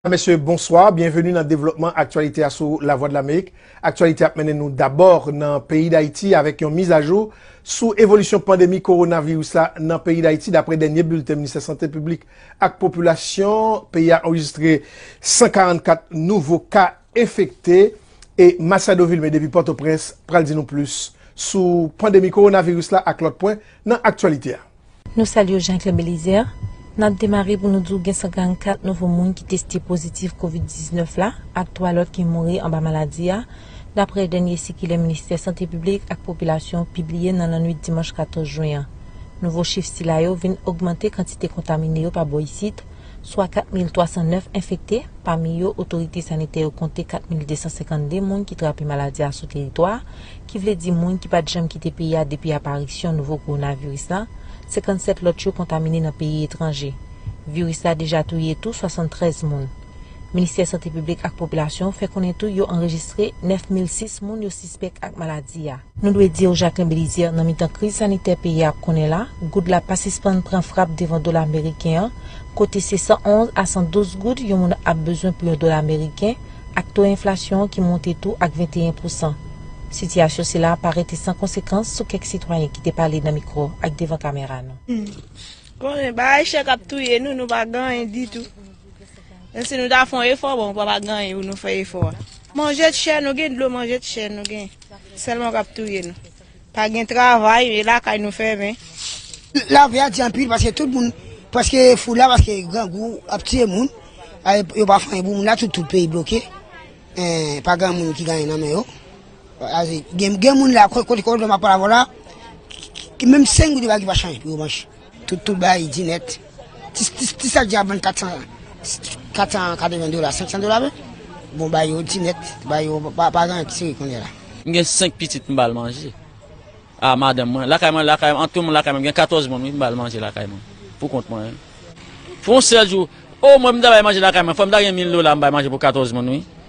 Mesye, bonswa, byenveni nan devlopman aktyalite a sou La Vwa de Lamerik. Aktyalite ap mennen nou dabò nan peyi Dayiti avèk yon mizajou sou evolisyon pandemi kowonaviris la nan peyi Dayiti. Dapre dènye bilten Ministè Sante Piblik ak Popilasyon, peyi a anrejistre 144 nouvo ka. enfekte e Machado Vilmé depi Pòtoprens pral di nou plis sou pandemi kowonaviris la ak lòt pwen nan aktyalite a. Nou salye w Jean Claire Belizaire, nap demare pou nou di w gen 144 nouvo moun ki teste pozitif kovid 19 la ak 3 lòt ki mouri anba maladi a, daprè dènye sikilè ministè sante piblik ak popilasyon pibliye nan lannwit dimanch 14 jwen an. Nouvo chif sila yo vin ogmante kantite kontamine yo pa bò isit, swa 4,309 enfekte, pami yo otorite sanitè yo konte 4,252 moun ki trape maladi a sou teritwa a, ki vle di moun ki pa t janm kite peyi a depi aparisyon nouvo kowonaviris la, 57 lòt yo kontamine nan peyi etranje. Viris la deja touye tou 73 moun. Ministè sante piblik ak popilasyon fè konnen tou yo anrejistre 9,006 moun yo sispèk ak maladi a. Nou dwe di ou Jacquelin Belizaire nan mitan kriz sanitè peyi a ap konnen la, goud la pa sispann pran frap devan dola meriken an, kote se 111 a 112 goud yon moun ap bezwen pou yon dola meriken, ak to enflasyon an ki monte tou ak 21 pousan. Sitiyasyon sila a pa rete san konsekans sou kèk sitwayen ki te pale nan mikwo ak devan kamera nou. Humm konnen bagay chè kap touye nou nou pa gen anyen ditou menm si nou ta fon efò bon pa pa gen anyen pou nou fè efò a manje t chè nou gen dlo manje t chè nou gen. Selman kap touye nou. Pa gen travay e lakay nou fèmen. Lavi a di anpil paske tout moun preske fou la paske grangou ap tiye moun. Yo pa fè anyen pou moun la tout peyi bloke. Pa gen moun ki gen anyen nan men yo. Gen moun la kote kote map pale avèw la menm 5 goud yo pa gen ki pa chanje pou yo manje. Tout tout bay di nèt. Ti sak djab vann 480 dola, 500 dola vre. Bon bay yo di nèt, bay yo pa gen an ki seri kounye la. M gen 5 pitit m bal manje. A madanm mwen, lakay mwen lakay an tout moun lakay mwen m gen 14 moun wi m bal manje lakay mwen pou kont mwen wi. Pou yon sèl jou, o mwen m ta bay manje lakay mwen fò m ta gen 1000 dola m bay manje pou 14 moun wi.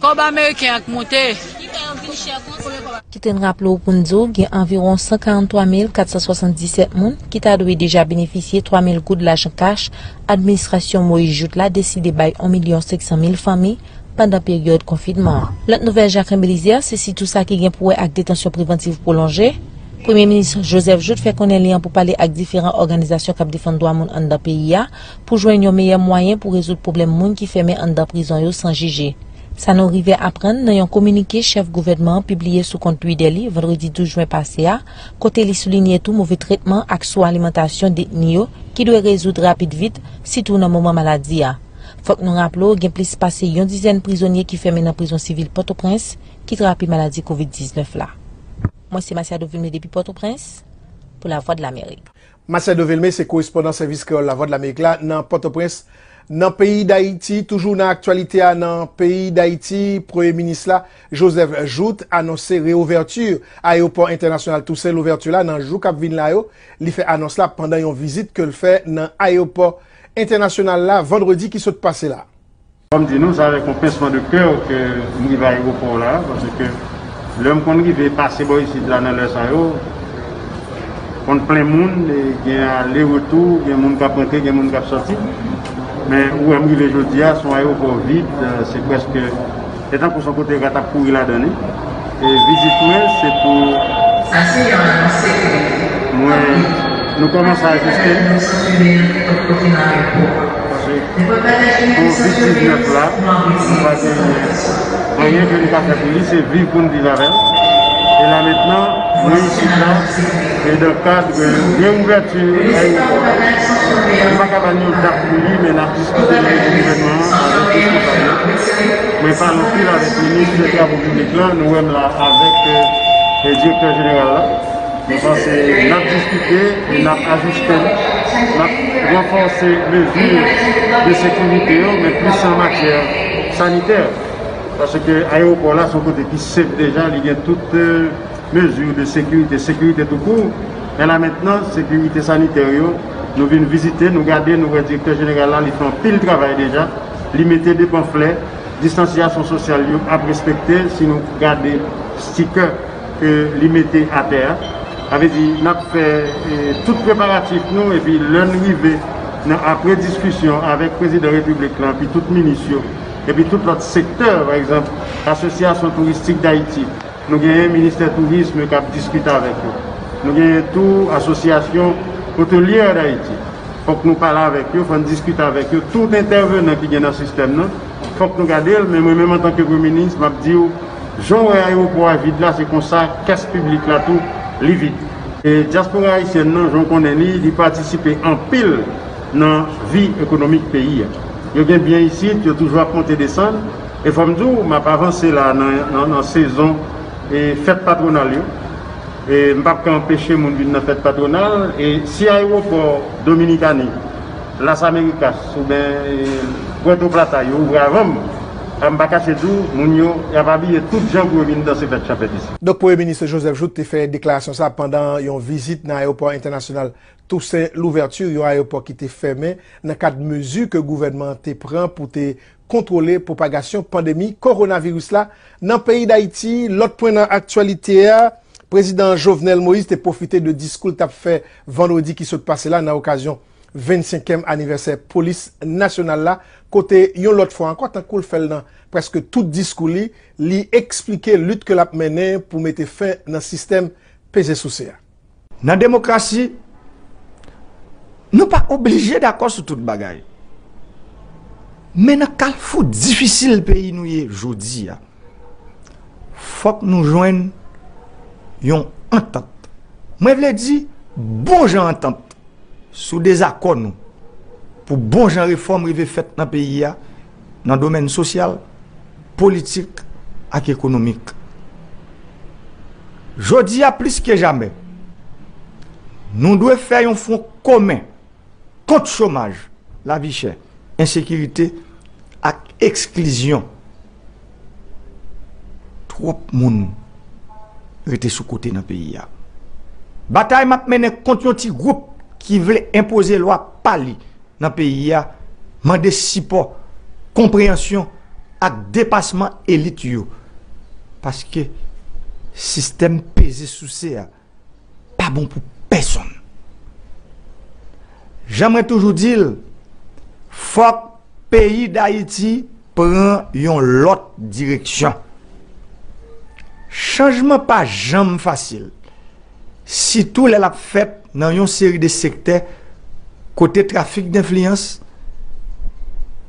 Kob ameriken an k moute. Kite n raple w pou n di w gen anviwon 143 mil 477 moun ki ta dwe deja benefisye 3 mil goud lajan kach administrasyon Moise Jouthe la deside bay 1 milyon 500 mil fanmi pandan peryòd konfinman an. Lòt nouvèl Jacquelin Belizaire se sitou sa ki gen pou wè ak detansyon prevantiv pwolonje Premye Minis Joseph Jouthe fè konnen li an pou pale ak diferan òganizasyon k ap defann dwa moun anndan peyi a pou jwenn yon meyè mwayen pou rezoud pwoblèm moun ki fèmen anndan prizon yo san jije. Sa nou rive aprann nan yon kominike chèf gouvènman an pibliye sou kont Twidè li vandredi 12 jwen pase a, kote li soulinye tou move tretman ak sou alimantasyon detni yo ki dwe rezoud rapid vit, sitou nan moman maladi a. Fòk nou raple w gen plis pase yon dizèn prizonye ki fèmen nan prizon sivil Pòtoprens ki trape maladi kovid 19 la. Mwen se Masiado Vilme depi Pòtoprens pou Lavwadlamerik. Marcel Devilme se korespondan Sèvis Kreyòl Lavwadlamerik la nan Pòtoprens, nan peyi Dayiti. Toujou nan aktyalite a nan peyi Dayiti, Premye Minis la, Joseph Jouthe, anonse reouvèti Ayewopò Entènasyonal Tousen Louvèti la nan jou k ap vin la yo. Li fè anons la pandan yon vizit ke l fè nan Ayewopò Entènasyonal la vandredi ki sot pase la. Fòm di nou sa avèk yon pincement de coeur ke m rive aeroport la, pase ke lèm konn rive pase bò isit la nan lè sa yo, konn plen moun e gen ale retou, gen moun kap rantre gen moun kap sòti, men ou wèm rive jodia son aeroport vide, se preske se tankou son kote rat ap kouri ladan li. Vizit mwen se pou mwen nou komanse ajiste paske pou vit 19 la nou pa genyen anyen ke nou ka fè pou li se viv pou n viv avèl e la mentnan mwen isit la e dan kad reouvèti ayewopò a nou pa ka ba n yon dat pou li men n ap diskite nan nivo gouvènman an avèk responsab yo. Mwen pale anpil avèk ministre travo piblik la, nou wèm la avèk direktè jeneral la, mwen panse nap diskite e nap ajiste, nap ranfòse mezi de sekirite yo men plis an matyè sanitè, paske ayewopò la se yon kote ki sèf deja, li gen tout mezi de sekirite, sekirite tou kou, men la mentnan sekirite sanitè yo, nou vin vizite, nou gade, nou wè direktè jeneral la li fè anpil travay deja. Li mete 2 panflè, distansyasyon sosyal yo ap respekte si nou gade stikè ke li mete atè a. Sa vle di n ap fè tout preparatif nou epi lè n rive nan apre diskisyon avèk Prezidan Repiblik lan epi tout minis yo epi tout lòt sektè pa egzanp Asosyasyon Touristik Dayiti, Nou genyen ministè tourism kap diskite avèk yo. Nou genyen tou asosyasyon hotelier d'Haiti. Fòk nou pale avèk yo, fòn diskite avèk yo. Tout entèvenan ki gen nan sistèm nan, fòk nou gade l. Men mwen menm antanke premye minis, map di w, jan w wè ayewopò a vid la, se konsa kès piblik la tou, li vid. E dyaspora ayisyèn nan, jan w konnen li, li patisipe anpil nan vi ekonomik peyi a. Yo gen byen isit, yo toujou ap monte desann. E fòm di w map avanse la nan sezon fèt patronal yo e m pap ka anpeche moun vin nan fèt patronal e si ayewopò Dominikani, Las Americas oubyen Puerto Plata yo ouvri avan m a m pa kache di w moun yo yap abiye tout jan pou yo vin danse fèt chanpèt isi. Donk Premye Minis Joseph Jouthe te fè deklarasyon sa pandan yon vizit nan ayewopò entènasyonal Toussaint Louverture, yon ayewopò ki te fèmen nan kad mezi ke gouvènman an te pran pou te kontwole pwopagasyon pandemi kowonaviris la nan peyi Dayiti. Lòt pwen nan aktyalite a, Prezidan Jovenel Moïse te pwofite de diskou l t ap fè vandredi ki sot pase la nan okazyon 25 èm anivèsè Polis Nasyonal la kote yon lòt fwa ankò tankou l fè l nan prèske tout diskou li, li eksplike lit ke l ap mennen pou mete fen nan sistèm peze souse a. Nan demokrasi, nou pa oblije dakò sou tout bagay. Men nan kalfou difisil peyi nou ye jodi a, fòk nou jwenn yon antant. Mwen vle di bon jan antant sou dezakò nou pou bon jan refòm rive fèt nan peyi a. nan domèn sosyal, politik ak ekonomik. Jodi a plis ke jamè, nou dwe fè yon fwon komen kont chomaj, lavi chè, ensekirite ak eksklizyon. Twòp moun rete sou kote nan peyi a. Batay map mennen kont yon ti gwoup ki vle enpoze lwa pa li nan peyi a mande sipò, konpreyansyon ak depasman elit yo paske sistèm peze souse a. pa bon pou pèsonn. Jan mwen toujou di l, fòk peyi Dayiti pran yon lòt direksyon. Chanjman pa janm fasil, sitou lè l ap fèt nan yon seri de sektè kote trafik denfliyans,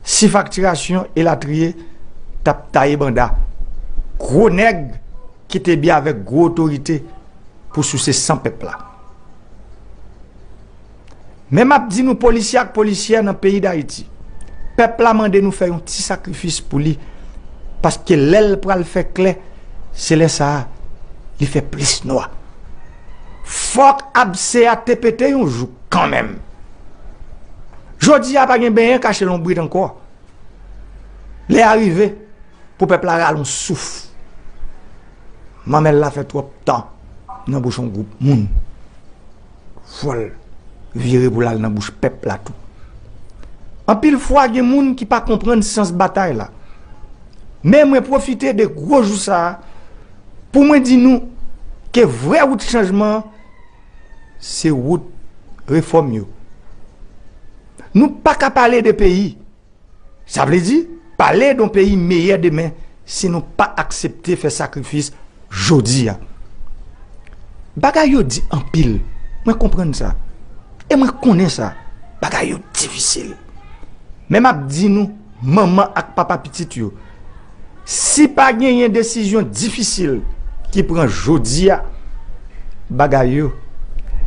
sifaktirasyon elatriye t ap taye banda. Gwo nèg! Ki te byen avèk gwo otorite pou souse san pèp la. Men m ap di nou polisye ak polisyè nan peyi Dayiti, pèp la mande nou fè yon ti sakrifis pou li paske lè l pral fè klè, se lè sa a li fè plis nwa. Fòk abse a te pete yon jou kanmenm. Jodi a pa gen benyen kache lonbrit ankò. Lè a rive. Pou pèp la rale yon souf. Manmèl la fè twòp tan nan bouch yon gwoup moun. Fòl vire pou lal nan bouch pèp la tou. Anpil fwa gen moun ki pa konprann sans batay la. Men mwen pwofite de gwo jou sa a pou mwen di nou ke vrè wout chanjman an se wout refòm yo. Nou paka pale de peyi. Sa vle di, pale don peyi meyè demen si nou pa aksepte fè sakrifis jodi a. Bagay yo di anpil, mwen konprann sa. E mwen konnen sa, bagay yo difisil. Men m ap di nou, manman ak papa pitit yo, Si pa genyen desizyon difisil ki pran jodi a, bagay yo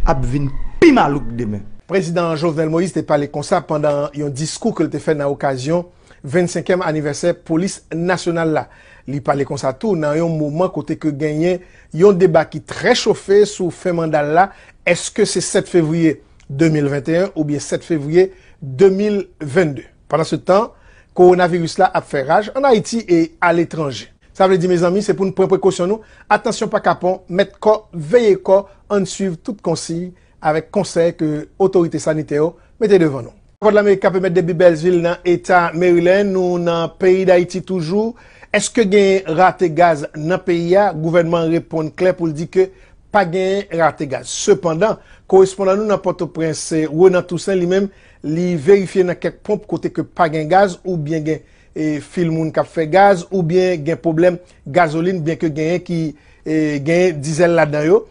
ap vin pi malouk demen. Prezidan Jovenel Moïse te pale konsa pandan yon diskou ke l te fè nan okazyon 25 èm anivèsè polis nasyonal la. Li pale konsa tou nan yon moman kote ke genyen yon deba ki trè chofe sou fen manda l la, èske se 7 fevriye 2021 oubyen 7 fevriye 2022. Pandansetan, kowonaviris la ap fè raj an Ayiti e aletranje. Sa vle di mezanmi se pou n pran prekosyon nou, atansyon pa kapon, mèt kò, veye kò, ann swiv tout konsiy avèk konsèy ke otorite sanitè yo mete devan nou. Vwadlamerik K Pemèt depi Bèlsvil nan Eta Maryland, nou nan peyi Dayiti toujou. Eske gen rate gaz nan peyi a? Gouvènman an reponn klè pou l di ke pa gen rate gaz. Sepandan, korespondan nou nan Pòtoprens, Renan Toussaint, li menm, Li verifye nan kèk ponp kote ke pa gen gaz ou byen gen fil moun kap fè gaz ou byen gen pwoblèm gazolin byen ke genyen ki genyen dizèl ladan yo.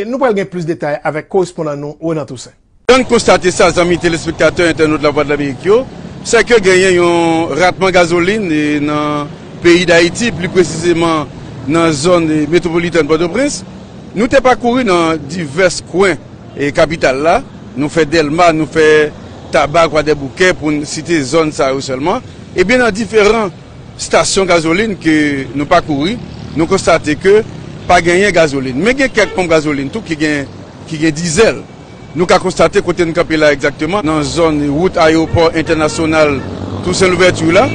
Nou pral gen plis detay avèk korespondan nou Renan Toussaint. Jan n konstate sa zanmi telespektatè entènot Lavwadlamerik yo, sè ke genyen yon ratman gazolin nan peyi Dayiti, pli presizeman nan zòn metwopolitèn Pòtoprens. Nou te pakouri nan divès kwen E kapital la, nou fè Dèlma, nou fè Taba, Kwadèboukè, pou n site zòn sa yo sèlman, ebyen nan diferan stasyon gazolin ke nou pakouri, nou konstate ke pa genyen gazolin. Men gen kèk ponp gazolin tou ki gen ki gen dizèl. Nou ka konstate kote n kanpe la egzakteman, nan zòn wout ayewopò entènasyonal Tousen Louvèti la,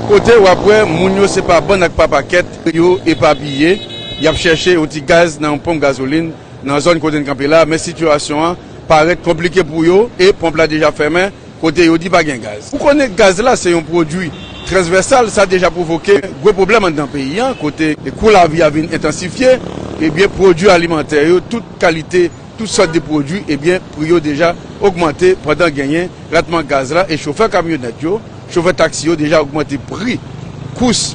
kote w ap wè moun yo se pa bann ak pa pakèt yo epapiye, y ap chèche yon ti gaz nan yon ponp gazolin Nan zòn kote n kanpe la, men sitiyasyon an parèt konplike pou yo e ponp la deja fèmen kote yo di pa gen gaz. Ou konnen gaz la se yon pwodui transvèsal, sa deja pwovoke gwo pwoblèm anndan peyi an kote kou lavi a vin entansifye, ebyen pwodui alimantè yo tout kalite, tout sòt de pwodui ebyen pri yo deja ogmante pandan genyen ratman gaz la e chofè kamyonèt yo, Chofè taksi yo deja ogmante pri kous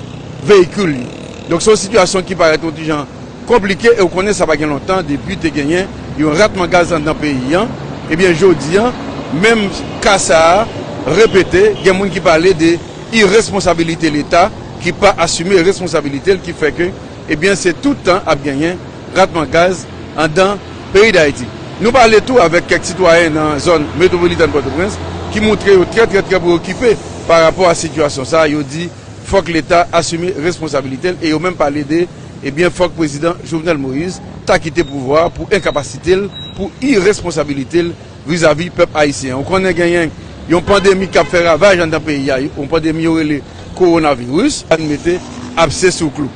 veyikil yo. Donk se yon sitiyasyon ki parèt yon ti jan konplike e ou konnen sa pa gen lontan depi te genyen yon ratman gaz anndan peyi an. Ebyen jodi an, menm ka sa a repete, gen moun ki pale de iresponsabilite leta ki pa asime responsabilite l ki fè ke Ebyen se tout tan ap genyen ratman gaz andan peyi Dayiti. Nou pale tou avèk kèk sitwayen nan zòn metwopolitèn Pòtoprens ki moutre yo trè trè trè preokipe pa rapò a sitiyasyon sa, yo di fòk leta asime responsabilite l e yo menm pale de ebyen fòk prezidan Jovenel Moïse ta kite pouvwa pou enkapasite l pou iresponsabilite l Vizavi pèp ayisyen an, ou konnen genyen yon pandemi k ap fè ravaj anndan peyi a, yon pandemi yo rele kowonaviris, ann mete abse sou klou.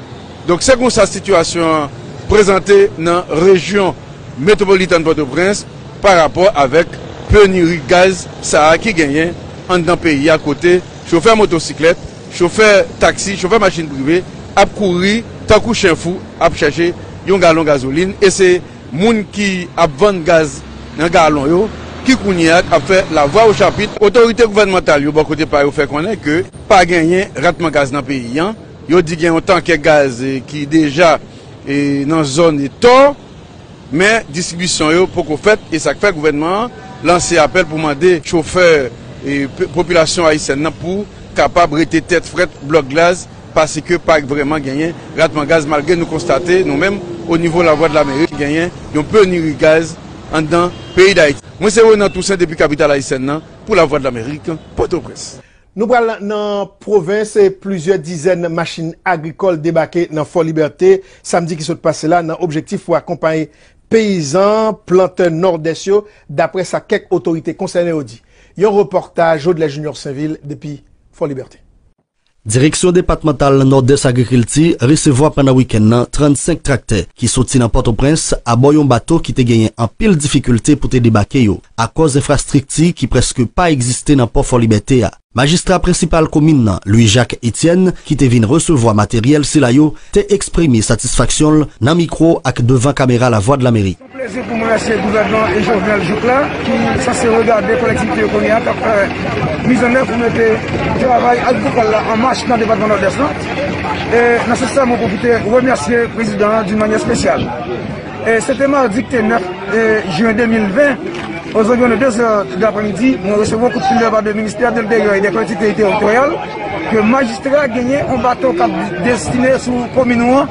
Donk se konsa sitiyasyon an prezante nan rejyon metwopolitàn Pòtoprens pa rapò avèk peniri gaz sa a ki genyen anndan peyi a kote chofè motosiklèt, chofè taksi, chofè machin prive ap kouri tankou chen fou ap chache yon galon gazolin e se Moun ki ap vann gaz nan galon yo ki kounye a ap fè lavwa ochapit. Otorite gouvènmantal yo bò kote pa yo fè konnen ke pa genyen ratman gaz nan peyi an. Yo di gen yon tankè gaz ki deja nan zòn Tò, men distribisyon yo poko fèt e sa k fè gouvènman an lanse apèl pou mande chofè popilasyon ayisyèn nan pou kapab rete tèt frèt blòk gaz Paske pa vrèman genyen ratman gaz malgre nou konstate nou menm onivo Lavwadlamerik genyen yon peniri gaz anndan peyi Dayiti. Mwen se Renan Toussaint depi kapital ayisyèn nan pou Lavwadlamerik, Pòtoprens. Nou pral nan pwovens e plizyè dizèn machin agrikòl debake nan Fò Libète samdi ki sot pase la nan objektif pou akonpaye peyizan, plantè Nòdès yo, daprè sa kèk otorite konsène yo di. Yon repòtaj Jodlè Junior Sainvil depi Fò Libète. Direksyon depatmantal Nòdès Agrikilti resevwa pandan wikenn nan 35 traktè ki soti nan Pòtoprens abò yon bato ki te genyen anpil difikilte pou te debake yo akòz enfrastrikti ki prèske pa egziste nan pò Fòlibète a. Majistra prensipal komin nan, Louis Jacques Etienne, ki te vin resevwa materyèl sila yo, te eksprime satisfaksyon l nan mikwo ak devan kamera Lavwadlamerik. Yon plezi pou mwen se gouvènman e Jovenel jouk la ki sanse regade kolektivite yo kounye a k ap fè mizannèv pou mete travay agrikòl la an mach nan depatman Nòdès lan. E nan sans sa mwen pwofite remèsye prezidan an doun manyè espesyal. E se te madi ki te 9 jen 2020 ozanviwon de 2 zè dapremidi mwen resevwa yon kout fil de la pa de ministè de enteryè e de kolektivite teritoryal, Ke majistra genyen yon bato kap destine sou komin ou an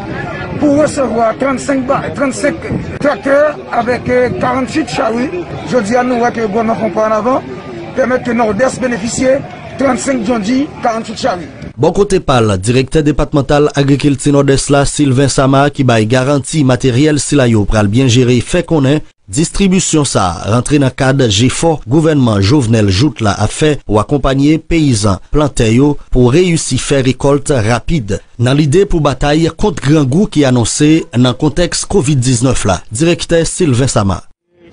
pou resevwa 35 traktè avèk 48 chari, jodi a nou wè ke gouvènman pran pa an avan, pèmèt ke Nòdès benefisye 35 djondji, 48 chari. Bò kote pa l, direktè depatmantal agrikilti Nòdès la, Sylvain Sama, ki bay garanti materyèl sila yo pral byen jere, fè konnen, Distribisyon sa a rantre nan kad jefò gouvènman Jovenel Jouthe la ap fè pou akonpanye peyizan plantè yo pou reyisi fè rekòlt rapid, nan lide pou batay kont grangou ki anonse nan kontèks Covid 19 la, direktè Sylvain Sama.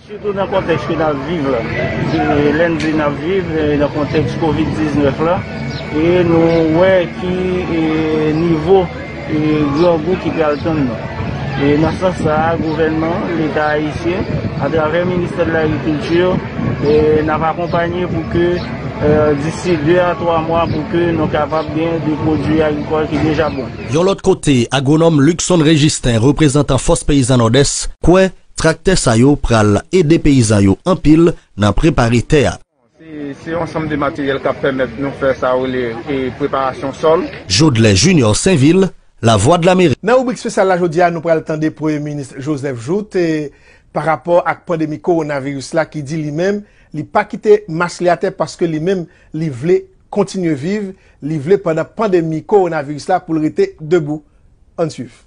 Sitou nan kontèks ke n ap viv la. Lè n di n ap viv nan kontèks Covid 19 la, e nou wè ki nivo. E grangou ki pral tann nou. E nan sans sa a, gouvènman, leta ayisyen, atravè ministè de l'agriculture, n ap akonpanye pou ke disi 2 a 3 mwa pou ke nou kapab gen de pwodui agrikòl ki deja bon. Yon lòt kote, agwonòm Luckson Registin, reprezantan Fòs Peyizan Nòdès, kwè traktè sa yo pral ede peyizan yo anpil nan prepare tè a. Se yon ansanm de materyèl k ap pèmèt nou fè sa yo rele preparasyon sòl. Jodlè Junior Sainvil, Lavwadlamerik. Nan ribrik spesyal la jodi a nou pral tande premye minis Joseph Jouthe pa rapò ak pandemi kowonaviris la ki di li menm li pa kite mas li atè paske li menm li vle kontinye viv, li vle pandan pandemi kowonaviris la pou l rete debou. Ann swiv.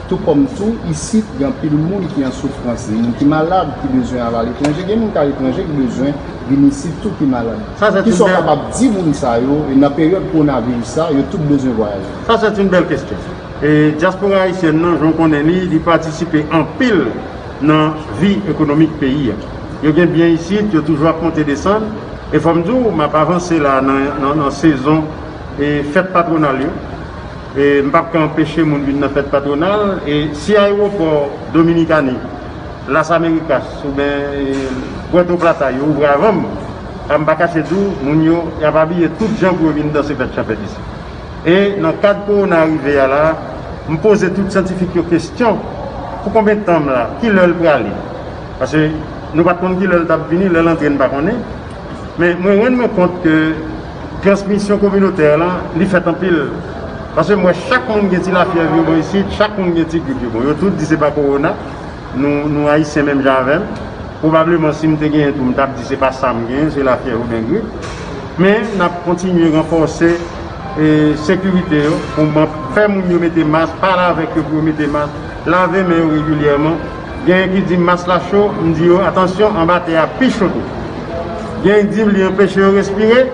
Tou kòm tou, isit gen anpil moun ki an soufrans, gen moun ki malad ki bezwen al aletranje, gen moun ki aletranje ki bezwen vin isit tou ki malad. Kisa w kapab di moun sa yo e nan peryòd kowonaviris sa, yo tout bezwen vwayaje? Sa sèt yn bèl kestyon. E dyaspora ayisyèn nan, jan w konnen li, li patisipe anpil nan vi ekonomik peyi a. Yo gen byen isit, yo toujou ap monte desann. E fò m di w, m ap avanse la a nan sezon fèt patwonal yo. M pap ka anpeche moun vin nan fèt patwonal e si ayewopò Dominikani, Las Americas oubyen Puerto Plata yo ouvri avan m, sa m pa kache di w, moun yo y ap abiye tout jan pou yo vin danse fèt chanpèt isit. E nan kad kowona a rive a la, m poze tout syantifik yo kesyon, pou konbyen tan m la? Ki lè l prale? Pase nou pa t konn ki lè l t ap vini, lè l antre n pa konnen. Men mwen rann mwen kont ke. Transmisyon kominotè la, li fèt anpil. Paske m wè chak moun gen ti lafyèv yo bò isit, chak moun gen ti grip yo. Bon, yo tout di se pa kowona. Nou, nou Ayisyen menm jan avè m. Pwobableman si m te genyen tou, m t ap di se pa sa m genyen, se lafyèv oubyen grip. Men, n ap kontinye ranfòse sekirite yo pou fè moun yo mete mas, pale avèk yo pou yo mete mas, lave men yo regilyèman. Genyen ki di mas la cho, m di yo atansyon anba tè a pi cho tou. Genyen ki di li anpeche yo respire,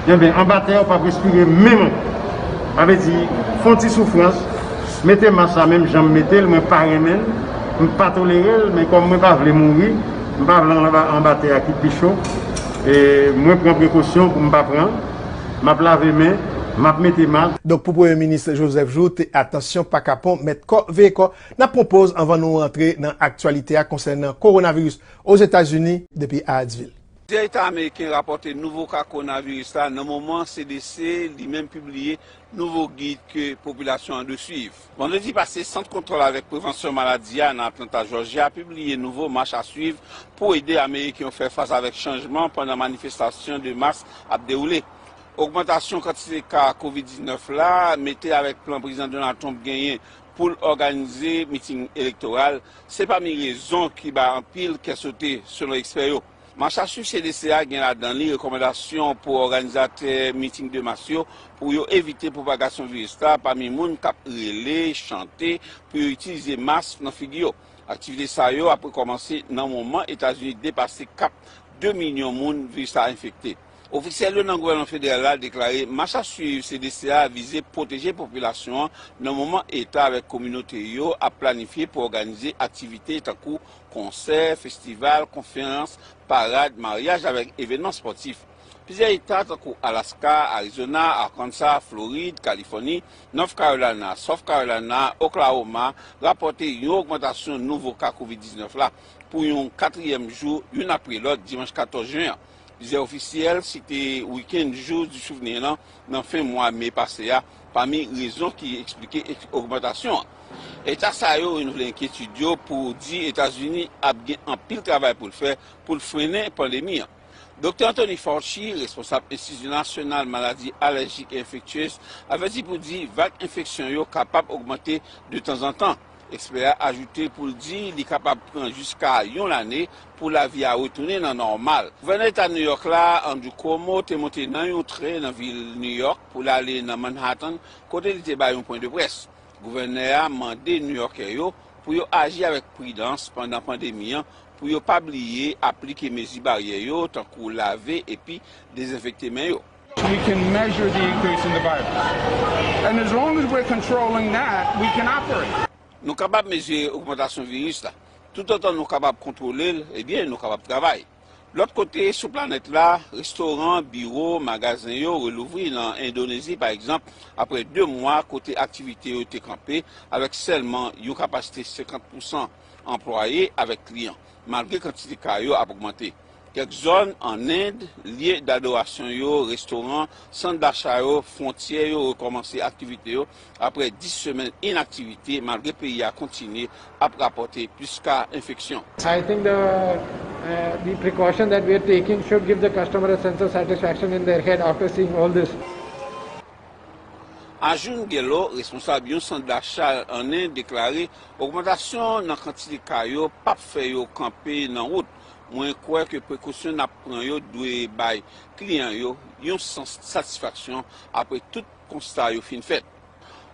enben anba tè ou pap respire menm ankò. Sa vle di fon ti soufrans, mete mas la menm janm metel mwen pa renmen l, m pa tolerel men kòm mwen pa vle mouri, m pa vle al anba tè a ki pi cho, mwen pran prekosyon pou m pa pran, map lave men, map mete mas. Donk pou premye minis Joseph Jouthe atansyon pa kapon mèt kò veye kò. N ap pran poz anvan nou rantre nan aktyalite a konsènan kowonaviris Ozetazini depi Hyattsville. Plizyè eta ameriken rapòte nouvo ka kowonaviris la nan moman CDC li menm pibliye nouvo gid ke popilasyon an dwe swiv. Vandredi pase, Sant Kontwòl avèk Prevansyon Maladi a nan Atlanta, Jòjya, pibliye nouvo mach a swiv pou ede ameriken yo fè fas avèk chanjman pandan manifestasyon de mas ap dewoule. Ogmantasyon kantite ka covid 19 la mete avèk plan Prezidan Donald Trump genyen pou l òganize miting elektoral se pami rezon ki bay anpil kè sote, selon ekspè yo. Masasu CDC a gen ladan li rekòmandasyon pou òganizatè miting de mas yo pou yo evite pwopagasyon viris la pami moun k ap rele, chante pou yo itilize mask nan figi yo. Aktivite sa yo ap rekòmanse nan moman Etazini depase kap 2 milyon moun viris la enfekte. Ofisyèl yo nan gouvènman federal la deklare mach ap swiv CDC a vize pwoteje popilasyon an nan moman eta avèk kominote yo ap planifye pou òganize aktivite tankou konsè, festival, konferans, parad, maryaj avèk evènman spòtif. Plizyè eta tankou Alaska, Arizona, Arkansas, Florid, Kalifòni, North Carolina, South Carolina, Oklahoma rapòte yon ogmantasyon nouvo ka Covid 19 la pou yon katriyèm jou youn apre lòt dimanch 14 jen an. Plizyè ofisyèl site weekend Jours du Souvenir lan nan fen mwa me pase a pami rezon ki eksplike ogmantasyon an. Eta sa yo renouvle enkyetid yo pou di Etazini ap gen anpil travay pou l fè pou l frennen pandemi an. Doktè Anthony Fauci, responsab Enstiti Nasyonal Maladi Alèjik e Enfektyez, avèti pou di vag enfeksyon yo kapab ogmante de tanzantan. Ekspè a ajoute pou l di li kapab pran jiska yon lane pou lavi a retounen nan nòmal. Gouvènè eta New York la, Andrew Cuomo, te monte nan yon tren nan vil New York pou l ale nan Manhattan kote li te bay yon pwen de près. Gouvènè a mande Nouyòkè yo pou yo aji avèk pridans pandan pandemi an pou yo pa bliye aplike mezi baryè yo tankou lave epi dezenfekte men yo. Nou kapab mezire ogmantasyon viris la. Toutotan nou kapab kontwole l, ebyen nou kapab travay. Lòt kote sou planèt la, restoran, biwo, magazen yo relouvri nan Endonezi pa egzanp apre 2 mwa kote aktivite yo te kanpe avèk sèlman yon kapasite 50 pousan. anplwaye avèk kliyan, malgre kantite ka yo ap ogmante. Kèk zòn ann End, lye dadorasyon yo, restoran, sant dacha yo, fwontyè yo rekòmanse aktivite yo aprè 10 semèn inaktivite, malgre peyi a kontinye ap rapòte plis ka enfeksyon. I think the the precaution that we are taking should give the customer a sense of satisfaction in their head after seeing all this. Arjun Gehlot, responsab yon sant dacha an End deklare, Ogmantasyon nan kantite ka yo pap fè yo kanpe nan wout. Mwen kwè ke prekosyon nap pran yo dwe bay kliyan yo yon sans satisfaksyon apre tout konsta yo fin fèt.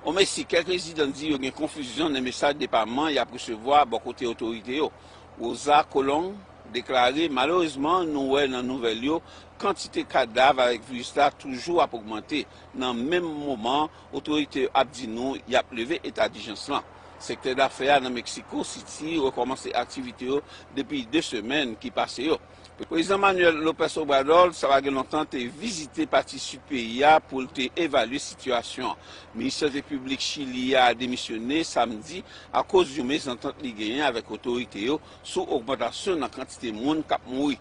O Mesi, kèk rezidan di yo gen konfizyon nan mesaj depaman yap resevwa bò kote otorite yo. Rosa Colong deklare, Malerezman nou wè nan nouvèl yo Kantite kadav avèk viris la toujou ap ogmante, nan menm moman otorite yo ap di nou y ap leve eta dijans lan. Sektè dafè a nan Meksiko Siti rekòmanse aktivite yo depi 2 semèn ki pase yo. Prezidan Manuel Lopez Obrador, sa pa gen lontan, te vizite pati sid peyi a pou l te evalye sitiyasyon an. Minis Sante Piblik Chili a demisyone samdi akoz yon mezantant li genyen avèk otorite yo sou ogmantasyon nan kantite moun k ap mouri.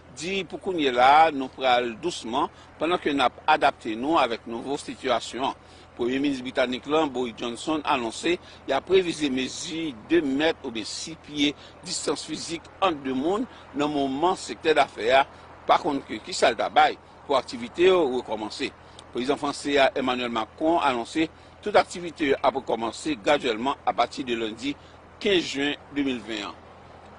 di pou kounye la a nou pral dousman pandan ke nap adapte nou avèk nouvo sitiyasyon an. Premye Minis Britanik lan, Boris Johnson, anonse yap revize mezi 2 mèt oubyen 6 pye distans fizik ant 2 moun nan moman sektè dafè a pa konn ke kisa l ta bay pou aktivite yo rekòmanse. Prezidan franse a, Emmanuel Macron, anonse tout aktivite yo ap rekòmanse gradyèlman apati de lendi 15 jen 2020 an.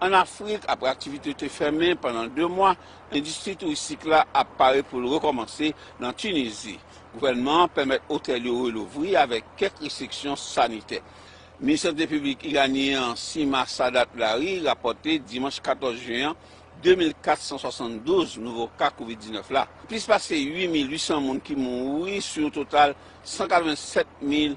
Ann Afrik, apre aktivite yo te fèmen pandan 2 mwa, endistri touristik la ap pare pou l rekòmanse nan Tunizi. Gouvènman an pèmèt otèl yo relouvri avèk kèk restriksyon sanitè. Minis Sante Piblik iranyen an, Sima Sadat Lari, rapòte dimanch 14 jen an 2.472 nouvo ka kovid 19 la. Plis pase 8.800 moun ki mouri sou yon total 187 mil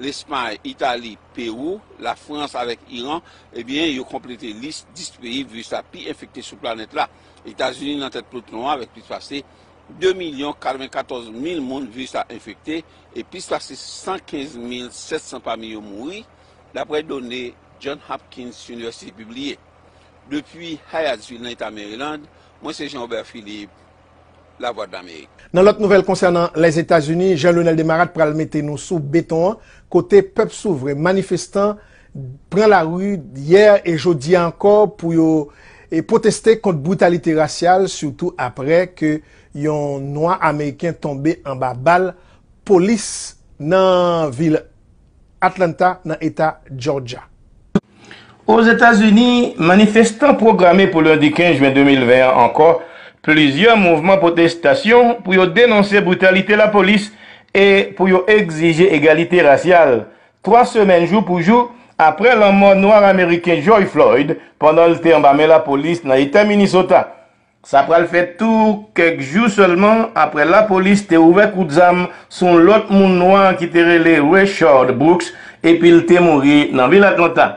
Lespay, Itali, Pewou, Lafrans avèk Iran, ebyen yo konplete lis 10 peyi viris la pi enfekte sou planèt la. Etazini nan tèt peloton an avèk plis pase 2 milyon 94 mil moun viris la enfekte e plis pase 115 mil 700 pami yo mouri, daprè done John Hopkins University pibliye. Depi Hyattsville nan Eta Maryland, mwen se Jean Robert Philippe Lavwadlamerik. Nan lòt nouvèl konsènan Lèzetazini, Jean Lionel Desmarattes pral mete nou sou beton an kote pèp souvren manifestan pran lari yè e jodi a ankò pou yo pwoteste kont britalite rasyal sitou aprè ke yon nwa ameriken tonbe anba bal polis nan vil Atlanta nan Eta Jòjya. Ozetazini, manifestan pwograme pou lendi 15 jen 2020 an ankò plizyè mouvman pwotestasyon pou yo denonse britalite lapolis e pou yo egzije egalite rasyal, 3 semèn jou pou jou apre lanmò Nwa-Ameriken George Floyd pandan l te anba men lapolis nan Eta Minnesota. Sa pral fè tou kèk jou sèlman aprè lapolis te ouvè kout zam sou yon lòt moun nwa ki te rele Rayshard Brooks epi l te mouri nan vil Atlanta.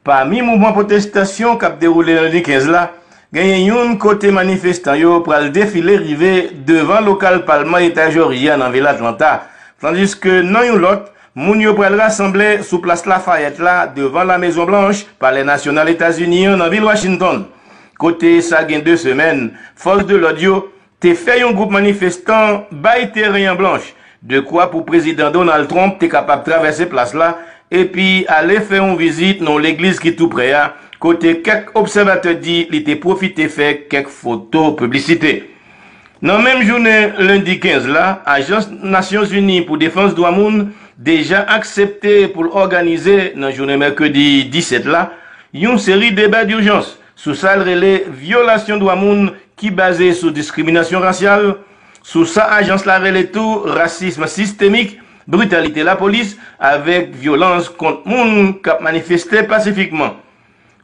Pami mouvman pwotestasyon k ap dewoule lendi 15 la, genyen youn kote manifestan yo pral defile rive devan lokal palman eta Jòji a nan vil Atlanta, tandiske nan yon lòt, Moun yo pral rasanble sou Plas Lafayette la devan La Mezon Blanch, Palè Nasyonal Etazini an nan vil Washington, kote sa gen 2 semèn, fòs de lòd yo te fè yon gwoup manifestan bay teren an blanch, dekwa pou Prezidan Donald Trump te kapab travèse plas la epi ale fè yon vizit nan yon legliz ki tou prè a, kote kèk obsèvatè di li te pwofite fè kèk foto piblisite. Nan menm jounen lendi 15 la, Ajans Nasyonzini pou Defans Dwa Moun deja aksepte pou l òganize nan jounen mèkredi 17 la yon seri deba durjans sou sa l rele vyolasyon dwa moun ki baze sou diskriminasyon rasyal, sou sa ajans la rele tou rasism sistemik, britalite lapolis avèk vyolans kont moun k ap manifeste pasifikman.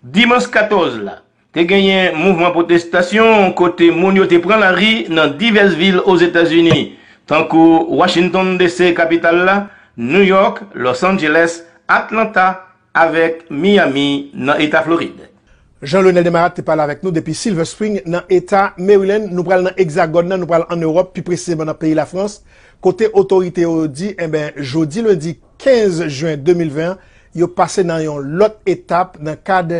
Dimanch 14 la, Te genyen mouvman pwotestasyon kote moun yo te pran lari nan divès vil Ozetazini, tankou Washington, DC, kapital la, New York, Los Angeles, Atlanta avèk Miami nan Eta Florid. Jean Leonel Desmarattes te pale avèk nou depi Silver Spring nan Eta Maryland. Nou pral nan Ekzagòn nan, nou pral an Ewòp, pi presizeman nan peyi Lafrans, kote otorite yo di enben jodi lendi 15 jen 2020 an, yo pase nan yon lòt etap nan kad